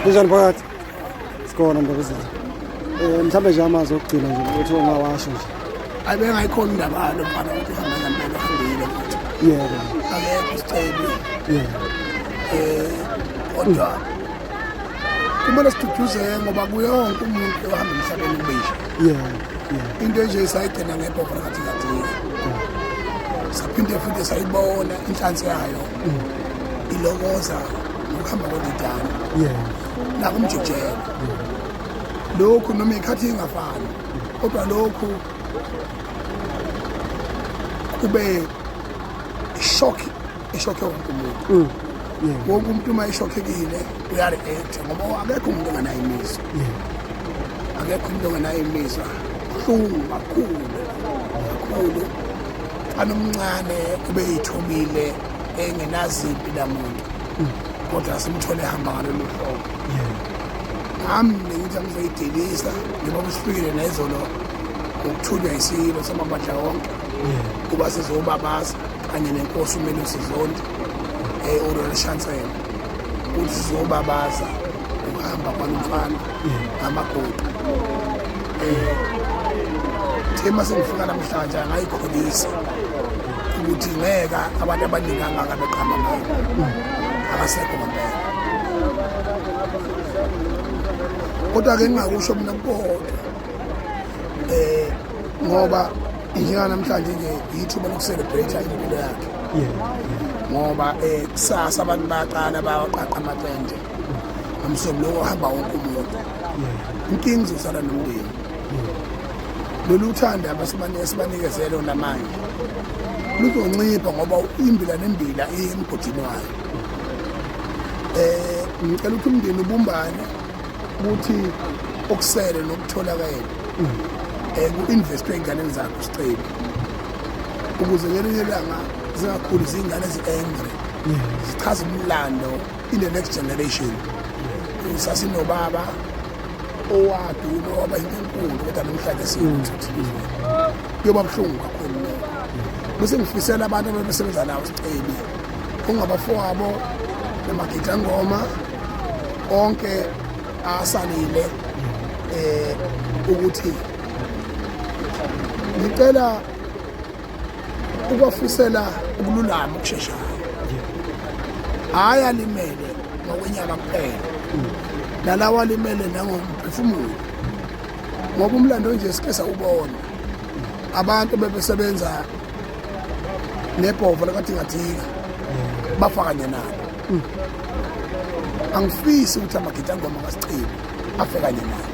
Kunjani phakathi? Sikhona ndabezini. Eh mhlambe nje amazwi okugcina nje ukuthi ongawasho nje. Ayi bengayikhona indaba yalo mfana ukuthi uhamba ngempela hambile futhi. Yebo. Akekho isicebe. Yebo. Eh kodwa kumele siduduzeke ngoba kuyonke umuntu ohamba emhlabeni ubisha. Yebo. Into nje sayigcina ngebhovu kathi kathi. Saphinde futhi sayibona inhlansi yayo. ilokoza ngokuhamba kwendidane nakumjijela lokhu noma ikhathi ingafani kodwa lokhu kube shock eshokhe wonke umuntu mm. wonke umuntu uma eshokhekile uyareact ngoba akekho umuntu onganayo imizwa akekho umuntu onganayo imizwa buhlungu kakhulu kakhulu Mfana omncane kube yithobile engenazimpi lamuntu kodwa simthole ehamba ngalolu hlobo nami bengithi angizoyidelisa njengoba kusifikile nezolo ukuthunywa isilo samabandla wonke kuba sizobabaza kanye nenkosi umele usizondi um eh, urolishansela ukuthi sizobabaza ukuhamba kwalo mfana ngamagoda thema eh, sengifika namhlanje angayikholisi ukuthi ngeka abantu abaningi angaka beqhamba ngayo akasekho kwampela kodwa-ke ngingakusho mina kukodwa eh ngoba njenga namhlanje nje yithuba lokucelebrate impilo yakhe ngoba eh kusasa abantu baqala bawaqaqa amaqende umsomi lowo ohamba wonke umuntu inkinga izosala nomndeni lolu thanda abasibanikezele namanje luzoncipha ngoba imbila nembila iye emgodini wayo um ngicela ukuthi umndeni ubumbane ukuthi okusele nokutholakele um eh, ku-investwe ey'nganeni zakho sicebi ukuze ngelinye ilanga zingakhuli ziyingane ezi-angry zichaza umlando in the next generation sasinobaba owaduna waba into enkulu kodwa namhlanje siwuthi kuyoba buhlungu kakhulu bese ngifisela abantu ababesebenza nawo sicebi ungabafowabo namagidangoma onke asalile eh ukuthi ngicela ukwafisela ukululama ukusheshayo hhayi alimele ngokwenyama kuphela nalawa alimele nangomphefumulo ngoba umlando onje sike sawubona abantu bebesebenza nebhovo lakathingathinga bafa kanye nabo angifisi ukuthi amagidangoma kasichibi afe kanye nabo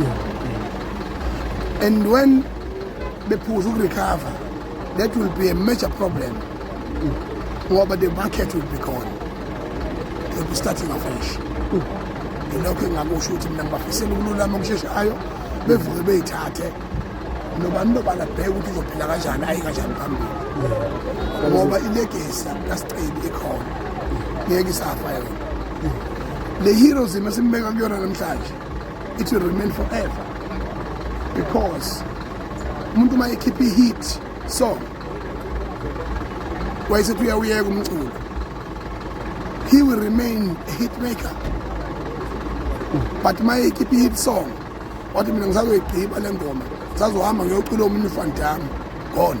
yeah. and when bephuza ukurecover that will be a major problem ngoba the market will be gone they'll be starting afresh yilokho engakusho ukuthi mina ngibafisela ukululama okusheshayo bevuke beyithathe nobani nobani abheke ukuthi uzophila kanjani ayi kanjani phambili ngoba ilegesi kasicebi ikhona ngeke isafa yona le heroes masimbeka kuyona namhlanje it will remain forever because umuntu uma ekhipha i-hit song wayesethi uyawuyeka umculo he will remain a hit maker but uma ekhipha i-hit song wathi mina ngisazoyigqiba le ngoma sazohamba ngiyocula omunye ufandami gone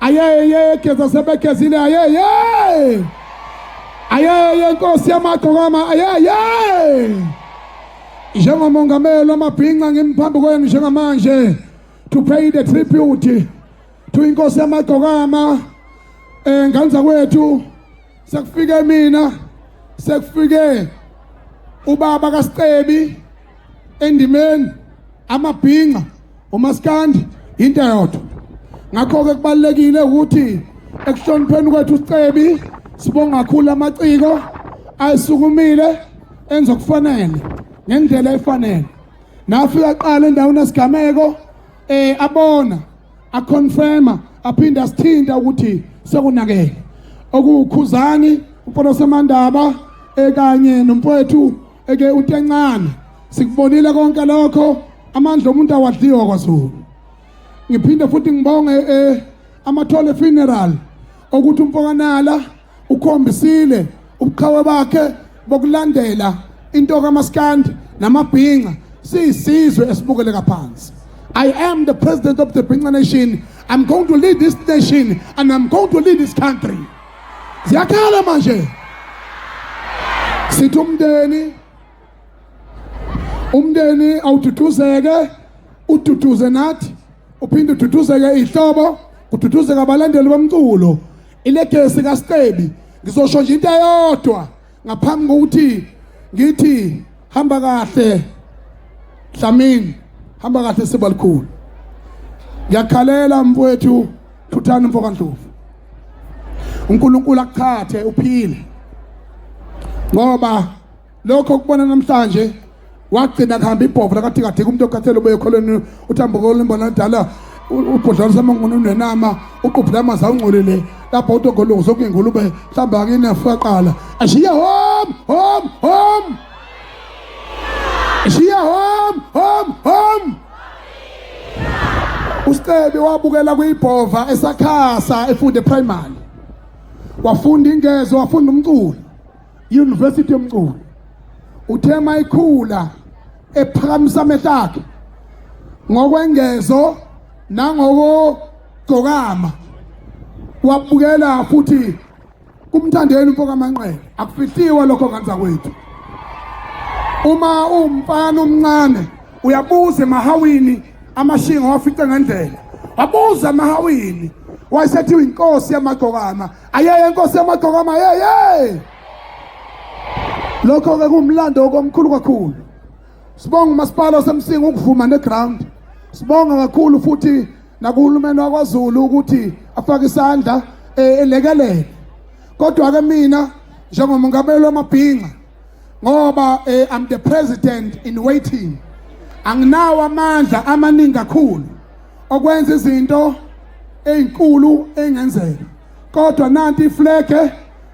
ayeyeyegeza sebegezile ayeye ayeye nkosi yamagqokama ayeye njengomongameli wamabhinca ngimphambi kwenu njengamanje to pay the tribute to inkosi yamagqokama eh nganza kwethu sekufike mina sekufike ubaba kaScebi endimeni amabhinqa umaskandi into yodwa ngakho-ke kubalulekile ukuthi ekuhlonipheni kwethu usicebi sibonga kakhulu amaciko ayisukumile enza okufanele ngendlela efanele nafika qala endaweni esigameko eh abona aconfirma aphinde asithinta ukuthi sekunakele okuwukhuzani uPolo Samandaba ekanye nomfowethu eke utencane sikubonile konke lokho amandla omuntu awadliwa kwaZulu ngiphinde futhi ngibonge eh, amathole funeral ukuthi umfokanala ukhombisile ubuqhawe bakhe bokulandela into kamaskandi namabhinca siyisizwe esibukele kaphansi I am the president of the Binca nation. I'm going to lead this nation and I'm going to lead this country. ziyakhala manje sithi umndeni umndeni awududuzeke ududuze nathi uphinde ududuzeke ihlobo kududuzeka abalandeli bomculo ilegesi kaStebi ngizosho nje into eyodwa ngaphambi kokuthi ngithi hamba kahle Dlamini hamba kahle sebalikhulu ngiyakhalela mfowethu thuthani mfoka Ndlovu uNkulunkulu akuthathe uphile ngoba lokho kubona namhlanje wagcina kuhamba ibhovu lakathikathika umuntu okhathele ubuye ekholweni uthambukolo imbona dala ubhodlwana samanguni unenama uqubhula amanzi awungcolile lapho utogolungu sokuyingulube mhlawumbe akine faqala ashiya home home home ashiya home home home uStebi wabukela kuyibhova esakhasa efunde primary wafunda ingezo wafunda umculo University yomculo uthe mayikhula ephakamisa amehlo akhe ngokwengezo nangokugcokama wabukela futhi kumthandeni umfoka manqele akufihliwe lokho nganza kwethu uma umfana omncane uyabuza emahawini amashinga wafice ngendlela wabuza emahawini wayesethiwa inkosi yamagcokama ayeye nkosi yamagqokama yeye lokho ke kumlando okomkhulu kakhulu sibonga umasipala osemsinga ukuvuma neground sibonga kakhulu futhi nakuhulumeni wakwazulu ukuthi afake isandla eh, elekelele kodwa ke mina njengomongameli wamabhinqa ngoba eh, I'm the president in waiting anginawo amandla amaningi kakhulu okwenza izinto ezinkulu engenzeka kodwa nanti iflege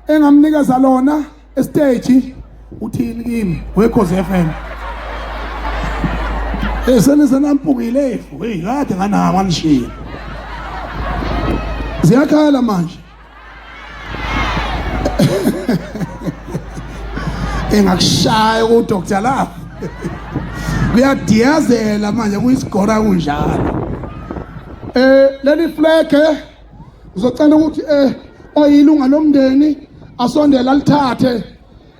engamnikeza lona estage uthini kimi wekhozi FM esenise nampungile efu hey kade nganama nishilo ziyakhala manje engakushaya udr love kuyadiyazela manje kuyisigora kunjalo eh leli fleke uzocela ukuthi eh oyilunga lomndeni asondela lithathe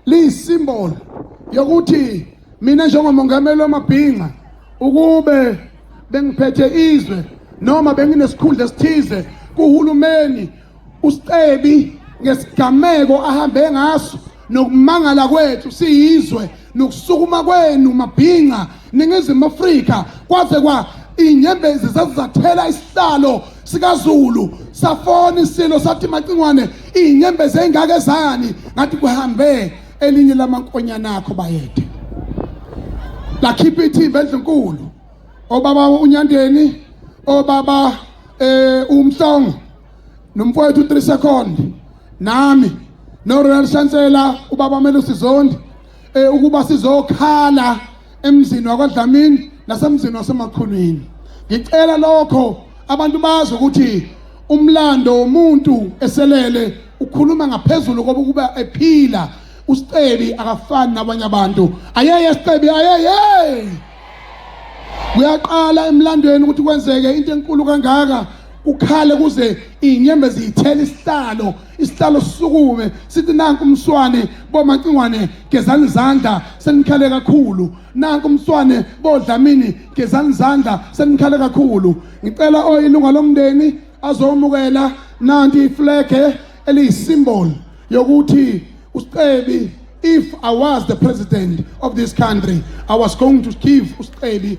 liyisimbolo yokuthi mina njengomongameli wamabhinca ukube bengiphethe izwe noma benginesikhundla esithize kuhulumeni uScebi ngesigameko ahambe ngaso nokumangala kwethu siyizwe nokusukuma kwenu mabhinca Ningizimu Afrika kwaze kwa inyembezi zazizathela isihlalo sikaZulu safona isilo sathi macingwane inyembezi engake zani ngathi kuhambe elinye lamankonyana akho bayede lakhipha ithimba endlunkulu obaba unyandeni obaba eh umhlongo nomfowethu 3 second nami no Royal Chancellor ubaba Melusi Zondi eh, ukuba sizokhala emzini wakwaDlamini nasemzini wasemakhulwini ngicela lokho abantu bazi ukuthi umlando womuntu eselele ukhuluma ngaphezulu koba ukuba ephila usicebi akafani nabanye abantu ayeye sicebi ayeye kuyaqala emlandweni ukuthi kwenzeke into enkulu kangaka ukhale kuze inyembezi ithele isihlalo isihlalo sisukume sithi nanku umswane bomacingwane gezani izandla senikhale kakhulu nanku umswane bodlamini gezani izandla senikhale kakhulu ngicela oyilunga lomndeni azomukela nanti iflege eliyisymbol yokuthi usicebi if i was the president of this country i was going to give usicebi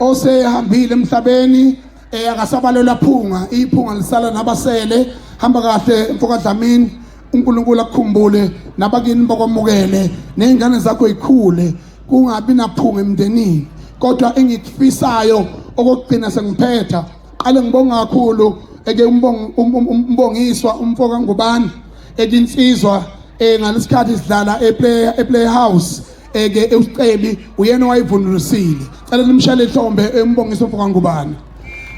osehambile emhlabeni eh akasabalelwa phunga iphunga lisala nabasele hamba kahle mfoka Dlamini uNkulunkulu akukhumbule nabakini bakwamukele nezingane zakho ikhule kungabi naphunga emndenini kodwa engikufisayo okugcina sengiphetha qale ngibonga kakhulu eke umbongiswa umfoka ngubani ekinsizwa eh ngalesikhathi sidlala eplay eplay house eke uScebi uyena owayivunulisile cela nimshale ihlombe embongisa umfoka ngubane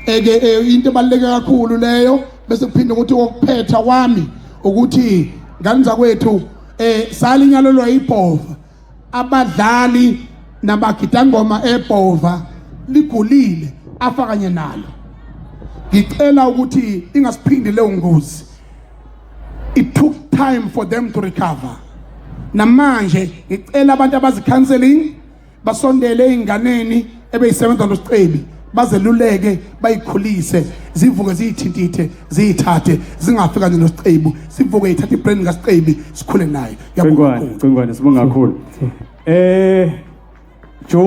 eke eh, into ebaluleke kakhulu leyo bese kuphinde ukuthi okuphetha kwami ukuthi ngani zakwethu eh salinyalelwa ibhova abadlali nabagidangoma ebhova ligulile afakanye nalo ngicela ukuthi ingasiphindi leyo ngozi it took time for them to recover namanje ngicela abantu abazi counseling basondele einganeni ebeyisebenza nosicebi bazeluleke bayikhulise zivuke ziyithintithe ziyithathe zingafika nje nosicebu sivuke ithathe ibrand kasicebi sikhule naye yabona cingwane sibonga kakhulu eh